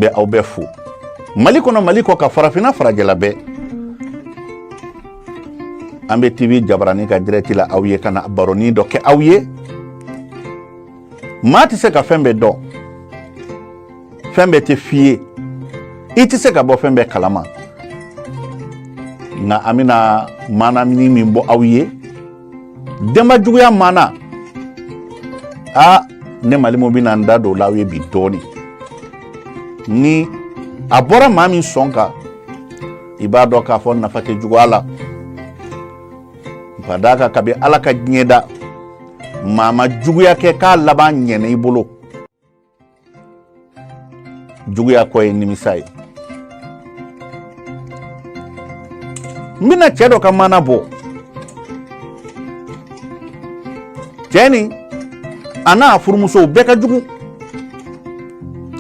bɛ aw bɛɛ fo mali kɔnɔ mali kɔkan farafinna farajɛla bɛɛ an bɛ tv jabarani ka dirɛti la aw ye ka na baroni dɔ kɛ aw ye maa tɛ se ka fɛn bɛɛ dɔn fɛn bɛɛ tɛ f'i ye i tɛ se ka bɔ fɛn bɛɛ kalama nka an bɛna maana min min bɔ aw ye denba juguya maana aa ne malimu bɛna n da don o la aw ye bi dɔɔnin ni a bɔra maa min sɔn kan i b'a dɔn k'a fɔ nafa tɛ juguya la ka d'a kan kabi ala ka diɲɛ da maa ma juguya kɛ k'a laban ɲɛna i bolo juguya kɔ ye nimisa ye n bɛna cɛ dɔ ka maana bɔ cɛ nin a n'a furumusow bɛɛ ka jugu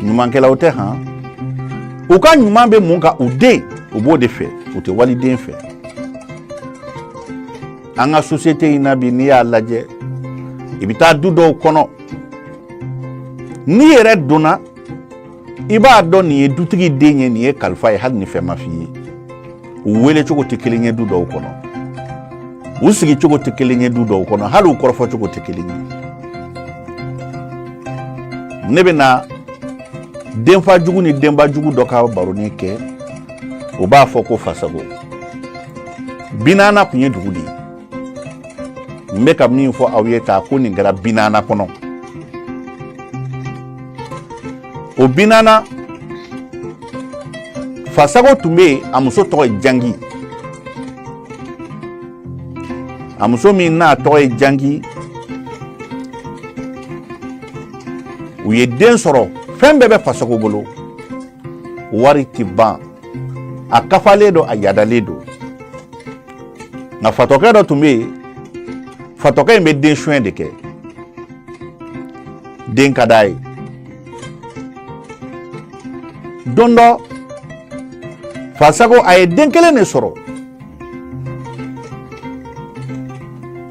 ɲumankɛlaw tɛ han u ka ɲuman bɛ mun kan u den u b'o de fɛ u tɛ waliden fɛ an ka sosiyete in na bi n'i y'a lajɛ i bɛ taa du dɔw kɔnɔ n'i yɛrɛ donna i b'a dɔn nin ye dutigi den ye nin ye kalifa ye hali ni fɛn ma f'i ye u wele cogo tɛ kelen ye du dɔw kɔnɔ u sigi cogo tɛ kelen ye du dɔw kɔnɔ hali u kɔrɔfɔ cogo tɛ kelen ye ne bɛna denfa jugu ni denba jugu dɔ ka baroni kɛ o b'a fɔ ko fasago binana tun ye dugu de ye n bɛ ka min fɔ aw ye tan ko nin kɛra binana kɔnɔ o binana fasago tun bɛ yen a muso tɔgɔ ye jangi a muso min n'a tɔgɔ ye jangi u ye den sɔrɔ fɛn bɛɛ bɛ fasago bolo wari tɛ ban a kafalen don a yadalen don nka fatɔkɛ dɔ tun bɛ yen fatɔkɛ in bɛ den suɲɛ de kɛ den ka d'a ye don dɔ fasago a ye den kelen de sɔrɔ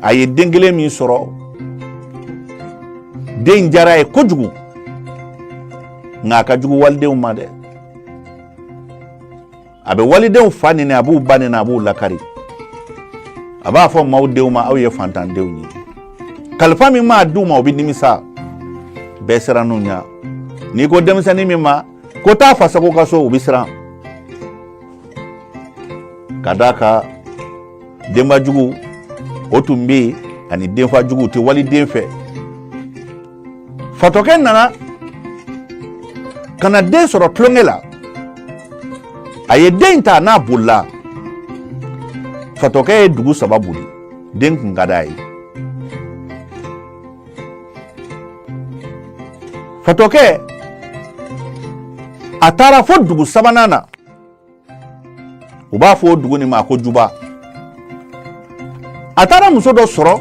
a ye den kelen min sɔrɔ den diyara a ye kojugu nka a ka jugu walidenw ma dɛ a bɛ walidenw fa nɛni a b'u ba nɛni a b'u lakari a b'a fɔ maaw denw ma aw ye fantandenw ye kalifa min maa d'u ma o bɛ nimisa bɛɛ sirann'u ɲɛ n'i ko denmisɛnnin min ma ko taa fasago ka so o bɛ siran ka d'a kan denbajugu o tun bɛ yen ani denfajugu u tɛ waliden fɛ fatɔkɛ nana ka na den sɔrɔ tulonkɛ la a ye den in ta n'a bolila fatɔkɛ ye dugu saba boli den kun ka d'a ye fatɔkɛ a taara fo dugu sabanan na u b'a fɔ o dugu nin ma ko juba a taara muso dɔ sɔrɔ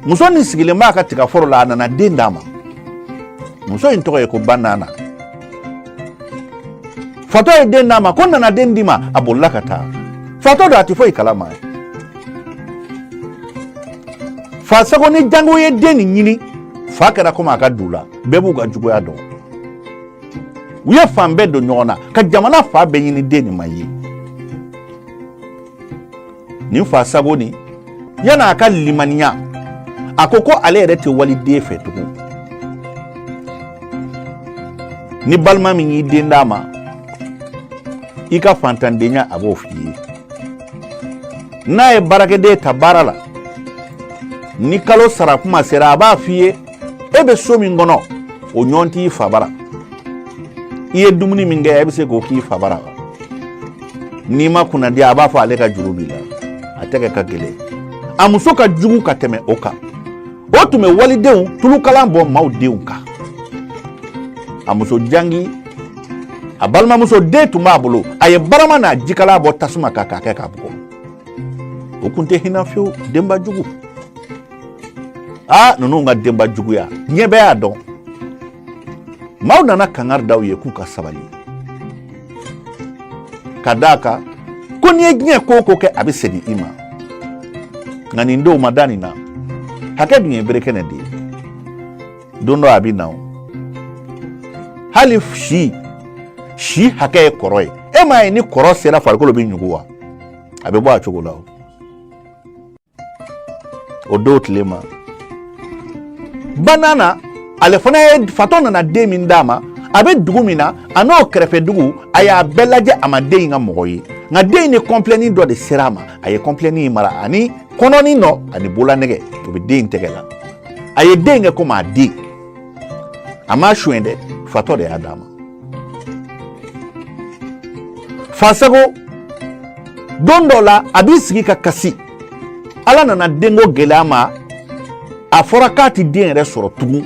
muso nin sigilen b'a ka tigaforo la a nana den d'a ma muso in tɔgɔ ye ko banana fatɔ ye den d'a ma ko n nana den d'i ma a bolila ka taa fatɔ don a tɛ foyi kalama fasago ni jango ye den nin ɲini fa kɛra komi a ka du la bɛɛ b'u ka juguya dɔn u ye fan bɛɛ don ɲɔgɔn na ka jamana fan bɛɛ ɲini den nin ma ye nin fasago nin yan'a ka limaniya a ko ko ale yɛrɛ tɛ waliden fɛ tugun ni balima min y'i den d'a ma i ka fantandenya a b'o f'i ye n'a ye baarakɛden ta baara la ni kalo sara kuma sera a b'a f'i ye e bɛ so min kɔnɔ o ɲɔgɔn t'i fa bara i ye dumuni min kɛ e bɛ se k'o k'i fa bara n'i ma kunnadiya a b'a fɔ ale ka juru b'i la a tɛgɛ ka gɛlɛn a muso ka jugu ka tɛmɛ o kan o tun bɛ walidenw tulukalan bɔn maaw denw kan a muso jangi a balimamuso den tun b'a bolo a ye barama n'a jikalan bɔ tasuma kan k'a kɛ k'a bugɔ o tun tɛ hinɛ fiyewu denba jugu aa ninnu ka denba juguya diɲɛ bɛɛ y'a dɔn maaw nana kangari da u ye k'u ka sabali ka d'a kan ko n'i ye diɲɛ ko o ko kɛ a bɛ segin i ma nka nin denw ma da nin na hakɛ dun ye bere kɛnɛ de ye don dɔ a bɛ na o hali si si hakɛ ye kɔrɔ ye e m'a ye ni kɔrɔ sera farikolo bɛ ɲugu wa a bɛ bɔ a cogo la o don tile ma banana ale fana ye fatɔ nana den min d'a ma a bɛ dugu min na a n'o kɛrɛfɛ dugu a y'a bɛɛ lajɛ a ma den in ka mɔgɔ ye nka den in ni kɔnpilɛni dɔ de sera a ma a ye kɔnpilɛni in mara ani kɔnɔni nɔ ani bololanɛgɛ o bɛ den in tɛgɛ la a ye den in kɛ komi a den a m'a suɲɛ dɛ fatɔ de y'a d'a ma fasago don dɔ la a b'i sigi ka kasi ala nana denko gɛlɛy'a ma a fɔra k'a ti den yɛrɛ sɔrɔ tugun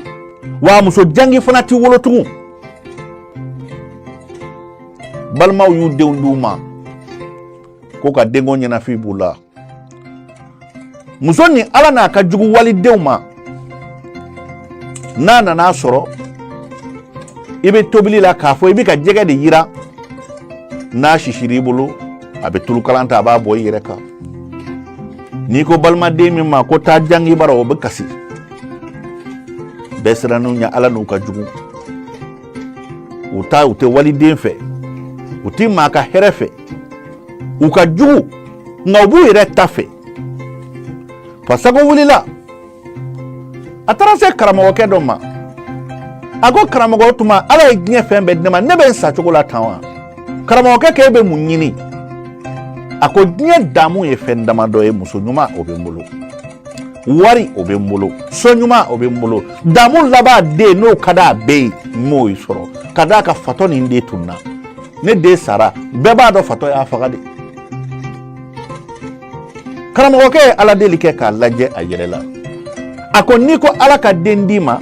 wa muso jangi fana ti wolo tugun balimaw y'u denw d'u ma ko ka denko ɲɛnafin b'u la muso ni ala n'a ka jugu walidenw ma n'a nan'a sɔrɔ i bɛ tobili la k'a fɔ i bɛ ka jɛgɛ de yiran n'a sisira i bolo a bɛ tulu kalan ta a b'a bɔn i yɛrɛ kan n'i ko balimaden min ma ko taa jangi bara o bɛ kasi bɛɛ sirannen u ɲɛ ala n'u ka jugu u ta u tɛ waliden fɛ u tɛ maa ka hɛrɛ fɛ u ka jugu nka u b'u yɛrɛ ta fɛ fasago wulila a taara se karamɔgɔkɛ dɔ ma a ko karamɔgɔ tuma ala ye diɲɛ fɛn bɛɛ di ne ma ne bɛ n sa cogo la tan wa karamɔgɔkɛ k'e bɛ mun ɲini a ko diɲɛ damu ye fɛn damadɔ ye muso ɲuman o bɛ n bolo wari o bɛ n bolo so ɲuman o bɛ n bolo damu laban den n'o ka d'a bɛɛ ye n m'o sɔrɔ ka d'a kan fatɔ ni n den tunna ne den sara bɛɛ b'a dɔn fatɔ y'a faga de karamɔgɔkɛ ye ala deli kɛ k'a lajɛ a yɛlɛla a ko n'i ko ala ka den d'i ma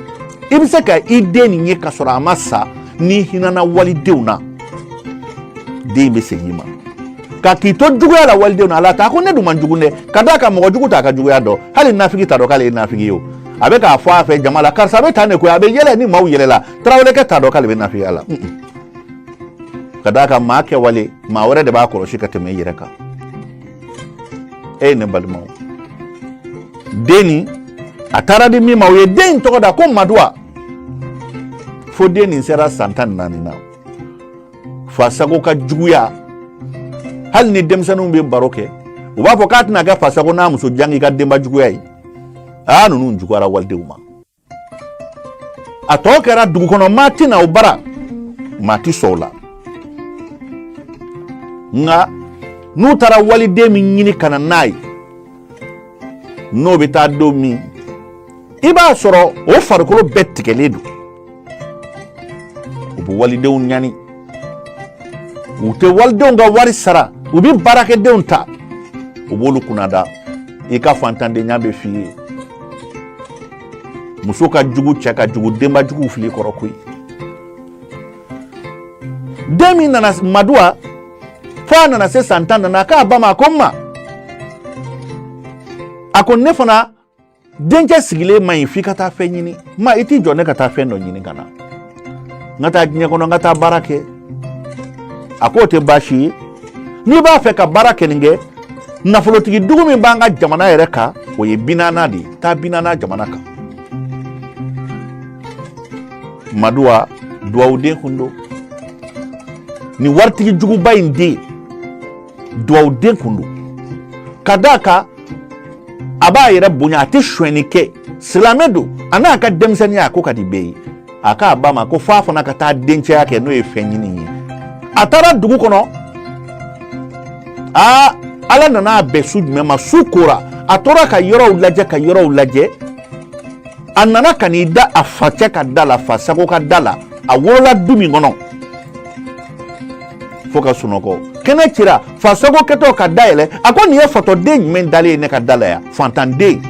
i bɛ se ka i den nin ye ka sɔrɔ a ma sa n'i hinana walidenw na den bɛ segin i ma ka k'i to juguya la walidenw na ala ta ko ne dun man jugu dɛ ka d'a kan mɔgɔ jugu t'a ka juguya dɔn hali nafigi t'a dɔn k'ale ye nafigi ye o a bɛ k'a fɔ a fɛ jama la karisa bɛ tan de koyi a bɛ yɛlɛ ni maaw yɛlɛla tarawelekɛ t'a dɔn k'ale bɛ nafigiya la ka d'a kan maa kɛwale maa wɛrɛ de b'a kɔlɔsi ka tɛmɛ i yɛrɛ kan e ye ne balimaw den nin a taara di min ma o ye den in tɔgɔ da ko maduwa fo den nin sera san tan ni naani na fasago ka juguya hali ni denmisɛnninw bɛ baro kɛ u b'a fɔ k'a tɛna kɛ fasago n'a muso jangi ka denba juguya ye aa ninnu juguyara walidenw ma a tɔ kɛra dugu kɔnɔ maa tɛ na o bara maa tɛ sɔn o la nka n'u taara waliden min ɲini ka na n'a ye n'o bɛ taa don min i b'a sɔrɔ o farikolo bɛɛ tigɛlen don u bɛ walidenw ɲani u tɛ walidenw ka wari sara u bɛ baarakɛdenw ta u b'olu kunnada i ka fantandenya bɛ f'i ye muso ka jugu cɛ ka jugu denba jugu fili kɔrɔ koyi den min nana maduwa fo a nana se san tan nana k'a ba ma ko n ma a ko ne fana denkɛ sigilen ma ɲi f'i ka taa fɛn ɲini ma i t'i jɔ ne ka taa fɛn dɔ ɲini ka na n ka taa diɲɛ kɔnɔ n ka taa baara kɛ a k'o tɛ baasi ye n'i b'a fɛ ka baarakɛnin kɛ nafolotigi dugu min b'an ka jamana yɛrɛ kan o ye binana de ye taa binana jamana kan maduwa duwawuden kun don nin waritigi juguba in den duwawuden kun don ka d'a kan a b'a yɛrɛ bonya a tɛ sonyɛni kɛ silamɛ don a n'a ka denmisɛnninya a ko ka di bɛɛ ye a k'a ba ma ko f'a fana ka taa dencɛya kɛ n'o ye fɛn ɲini ye a taara dugu kɔnɔ aa ala nana a bɛn su jumɛn ma su kora a tora ka yɔrɔw lajɛ ka yɔrɔw lajɛ a nana ka n'i da a facɛ ka da la fa sago ka da la a wolola du min kɔnɔ fo ka sunɔgɔ kɛnɛ cira fa sago kɛtɔ ka da yɛlɛ a ko nin ye fatɔden jumɛn dalen ye ne ka da la yan fantanden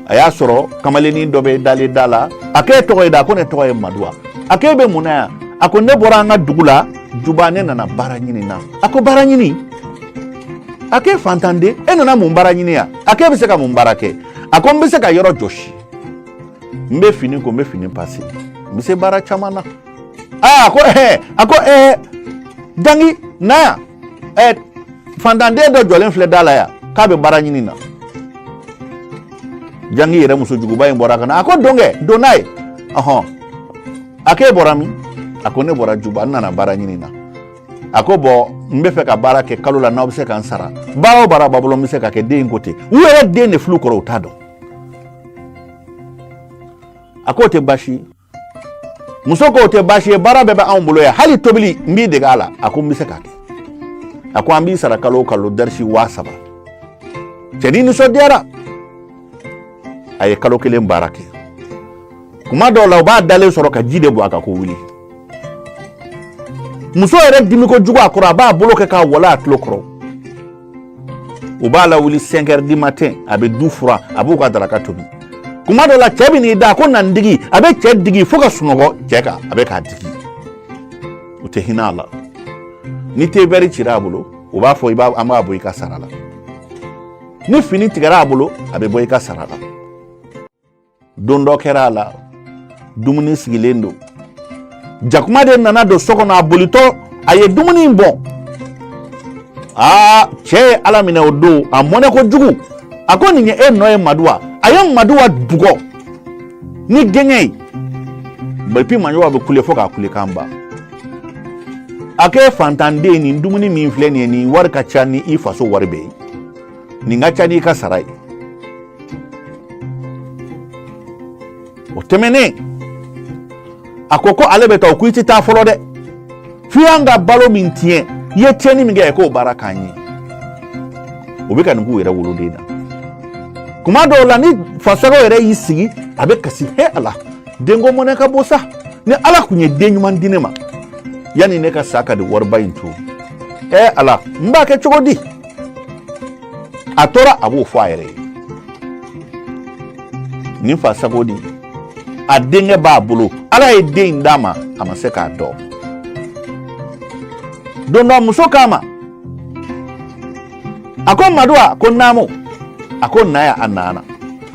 a y'a sɔrɔ kamalennin dɔ bɛ dalen da la a k'e tɔgɔ ye di a ko ne tɔgɔ ye maduwa a k'e bɛ mun na yan a ko ne bɔra an ka dugu la juba ne nana baara ɲini na a ko baara ɲini a k'e fantanden e nana mun baara ɲini yan a k'e bɛ se ka mun baara kɛ a ko n bɛ se ka yɔrɔ jɔsi n bɛ fini ko n bɛ fini pase n bɛ se baara caman na aa a ko ɛɛ a ko ɛɛ jangi na yan ɛɛ fantanden dɔ jɔlen filɛ da la yan k'a bɛ baara ɲini na jangi yɛrɛ muso juguba in bɔra ka na a ko don kɛ don n'a ye ɔhɔn a k'e bɔra min a ko ne bɔra juba n nana baara ɲini na a ko bɔn n bɛ fɛ ka baara kɛ kalo la n'aw bɛ se ka n sara baara o baara b'aw bolo n bɛ se k'a kɛ den ko ten u yɛrɛ den de fili kɔrɔ u t'a dɔn a k'o tɛ baasi ye muso k'o tɛ baasi ye baara bɛɛ bɛ anw bolo yan hali tobili n b'i dege a la a ko n bɛ se k'a kɛ a ko an b'i sara kalo o kalo darisi waa saba cɛnin nisɔndiyara a ye kalo kelen baara kɛ kuma dɔw la u b'a dalen sɔrɔ ka ji de bɔn a kan ko wuli muso yɛrɛ dimi kojugu a kɔrɔ a b'a bolo kɛ k'a wala a tulo kɔrɔ u b'a lawuli cinq heures du matin a bɛ du furan a b'u ka daraka tobi kuma dɔ la cɛ bɛ n'i da ko na n digi a bɛ cɛ digi fo ka sunɔgɔ cɛ kan a bɛ k'a digi u tɛ hinɛ a la ni te vɛri cira a bolo u b'a fɔ an b'a bɔ i ka sara la ni fini tigɛra a bolo a bɛ bɔ i ka sara la don dɔ kɛra a la dumuni sigilen don jakuma de nana don so kɔnɔ a bolitɔ a ye dumuni in bɔn aa cɛ ye a laminɛ o don a mɔnɛ kojugu a ko nin ye e nɔ ye maduwa a ye maduwa bugɔ ni gɛɲɛ ye bɛpi maduwa bɛ kule fo k'a kulekan ban a k'e fantanden nin dumuni min filɛ nin ye nin wari ka ca ni i faso wari bɛɛ ye nin ka ca ni i ka sara ye o tɛmɛnen a ko ko ale bɛ taa o ko i tɛ taa fɔlɔ dɛ f'i y'an ka balo min tiɲɛ i ye tiɲɛni min kɛ k'o baara k'an ye o bɛ ka nin k'u yɛrɛ woloden na kuma dɔw la ni fa sago yɛrɛ y'i sigi a bɛ kasi he ala denko mɔnɛ ka bon sa ni ala tun ye den ɲuman di ne ma yanni ne ka sa ka di wariba in to ɛ ala n b'a kɛ cogo di a tora a b'o fɔ a yɛrɛ ye nin fa sago di a denkɛ b'a bolo ala ye den in d'a ma a ma se k'a dɔn don dɔ muso k'a ma a ko madu a ko naamu a ko na yan a nana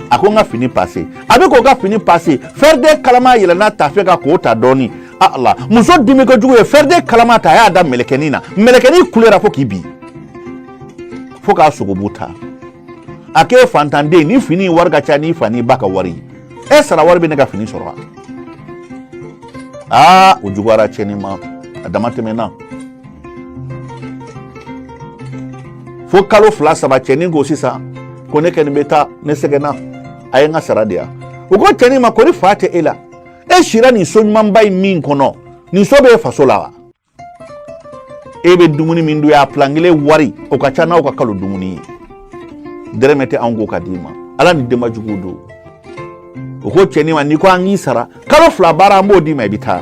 a ko n ka fini pase a bɛ k'o ka fini pase fɛrɛden kalama yɛlɛnna tafe kan k'o ta dɔɔni ala muso dimi kojugu ye fɛrɛden kalama ta a y'a da mɛlɛkɛnin na mɛlɛkɛnin kulera fo k'i bin fo k'a sogobu ta a k'e fantanden nin fini in wari ka ca n'i fa n'i ba ka wari e sara wari bɛ ne ka fini sɔrɔ wa aa o juguyara cɛnin ma a dama tɛmɛna fo kalo fila saba cɛnin ko sisan ko ne kɔni bɛ taa ne sɛgɛnna a ye n ka sara di yan u ko cɛnin ma ko ni fa tɛ e la e sira nin so ɲumanba in min kɔnɔ nin so bɛ e faso la wa e bɛ dumuni min dun a pilan kelen wari o ka ca n'aw ka kalo dumuni ye dɛrɛmɛ tɛ anw kun ka d'i ma ala nin denba juguw don u ko cɛnin ma n'i ko an k'i sara kalo fila baara an b'o d'i ma i bɛ taa